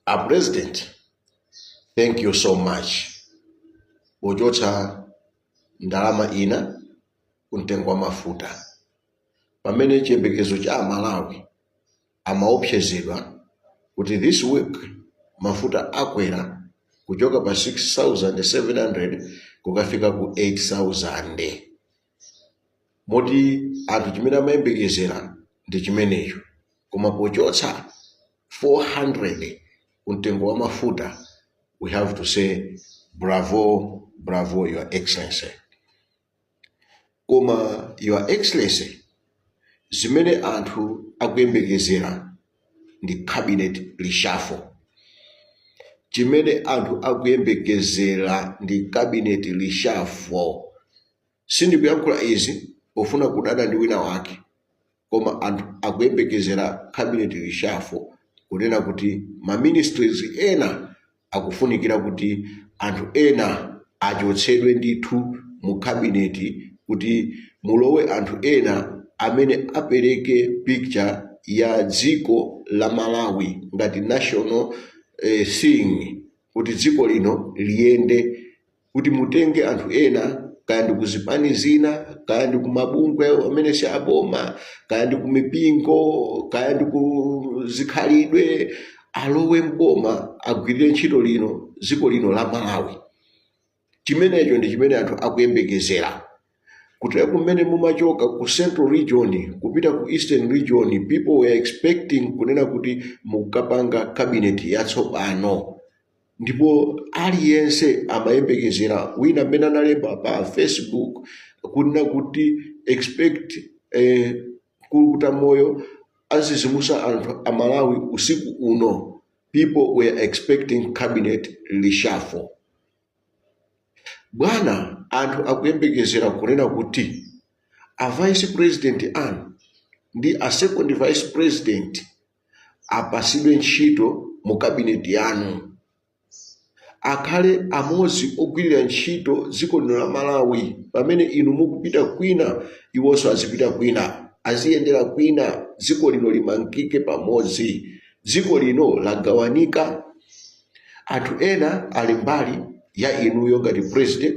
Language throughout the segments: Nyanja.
a president thank you so much pochotsa ndalama ina ku mtengo wa mafuta pamene chiyembekezo cha amalawi amaopsezedwa kuti this week mafuta akwera kuchoka pa 6700 kukafika ku 8000 moti anthu chimene amayembekezera ndi chimenecho koma pochotsa 400 ku mtengo wa mafuta we have to say bravo bravo your excellency koma your excellency zimene anthu akuyembekezera ndi cabinet reshuffle chimene anthu akuyembekezera ndi cabinet reshuffle Sindikuyankhula izi pofuna kudana ndi wina wake koma anthu akuyembekezera cabinet reshuffle kunena kuti ma ministries ena akufunikira kuti anthu ena achotsedwe ndithu mu cabinet kuti mulowe anthu ena amene apereke picture ya dziko la Malawi ngati national thing kuti dziko lino liyende kuti mutenge anthu ena kaya ndi ku zipani zina kaya ndi ku mabungwe amene si aboma kaya ndi ku mipingo kaya ndi ku zikhalidwe alowe mboma agwirire ntchito lino dziko lino la malawi chimenecho ndi chimene anthu akuyembekezera kuti mmene mumachoka ku central region kupita ku eastern region people were expecting kunena kuti mukapanga cabinet yatsopano ndipo aliyense amayembekezera wina mmene analemba pa facebook kunena kuti expect kulukuta moyo azizimusa anthu a malawi usiku uno people were expecting cabinet reshuffle Bwana anthu akuyembekezera kunena kuti a vice president anu ndi a second vice president apasidwe ntchito mu cabinet yanu akhale amodzi ogwirira ntchito dziko lino la Malawi pamene inu mukupita kwina iwonso azipita kwina aziyendera kwina dziko lino limangike pamodzi dziko lino lagawanika Anthu ena ali mbali ya inuyo ngati president,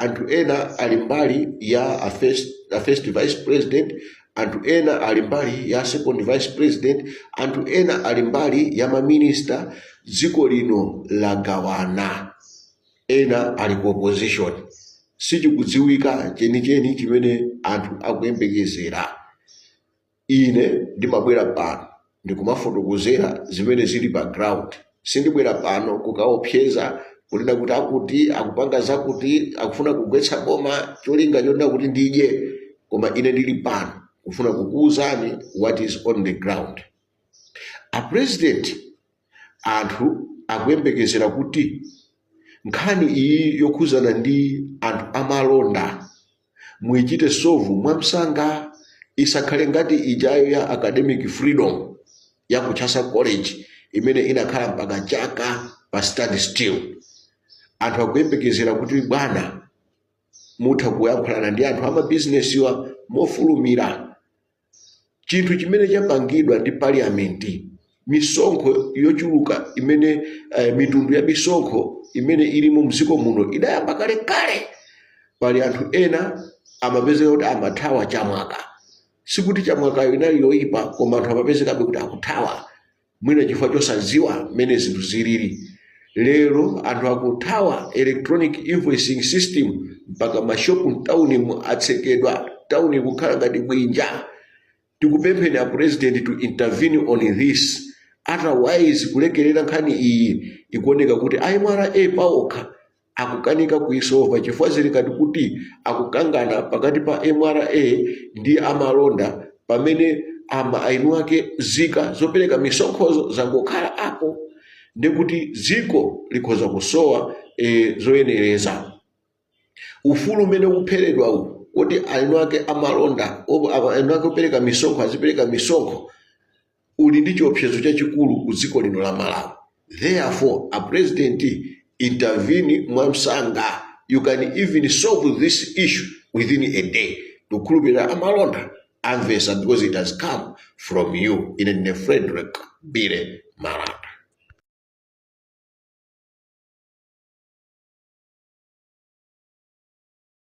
anthu ena ali mbali ya a first vice president, anthu ena ali mbali ya second vice president, anthu ena ali mbali ya maminista. Dziko lino lagawana, ena ali ku opposition. Sichikudziwika chenicheni chimene anthu akuyembekezera. Ine ndimabwera pano ndikumafotokozera zimene zili pa ground. Sindibwera pano kukaopseza, kunena kuti akuti akupanga zakuti, akufuna kugwetsa boma, cholinga chonena kuti ndidye. Koma ine ndili pano kufuna kukuuzani what is on the ground. A president Anthu akuyembekezera kuti nkhani iyi yokhuzana ndi anthu amalonda muichite solve mwamsanga isakhale ngati ijayo ya academic freedom ya ku Chancellor College imene inakhala mpaka chaka pa stand still. Anthu akuyembekezera kuti bwana mutha kuyankhulana ndi anthu amabizinesiwa mofulumira chinthu chimene chapangidwa ndi parliamenti misonkho yochuluka imene eh, mitundu ya misonkho imene ilimo mdziko muno idayamba kale kale pali anthu ena amapezeka kuti amathawa chamwaka sikuti chamwakayo inali yoyipa koma anthu amapezekabe kuti akuthawa mwina chifukwa chosadziwa mmene zinthu zilili lero anthu akuthawa electronic invoicing system mpaka mashopu mtaunimu atsekedwa tauni kukhala ngati bwinja tikupempheni a president to intervene on this otherwise kulekerera nkhani iyi ikuoneka kuti MRA paokha akukanika kuisova chifukwa zili ngati kuti akukangana pakati pa mra ndi amalonda pamene ama eni ake nzika zopereka misonkhozo zangokhala apo nde kuti dziko likhoza kusowa e, zoyenereza ufulu umene ukupheredwa uwu kuti eni ake amalonda opo- apa- eni ake opereka misonkho azipereka misonkho uli ndi chiopsezo chachikulu ku dziko lino la Malawi therefore a president intervene mwamsanga you can even solve this issue within a day ndikukhulupirira amalonda amvesa because it has come from you ine ndine Frederick Billy Malata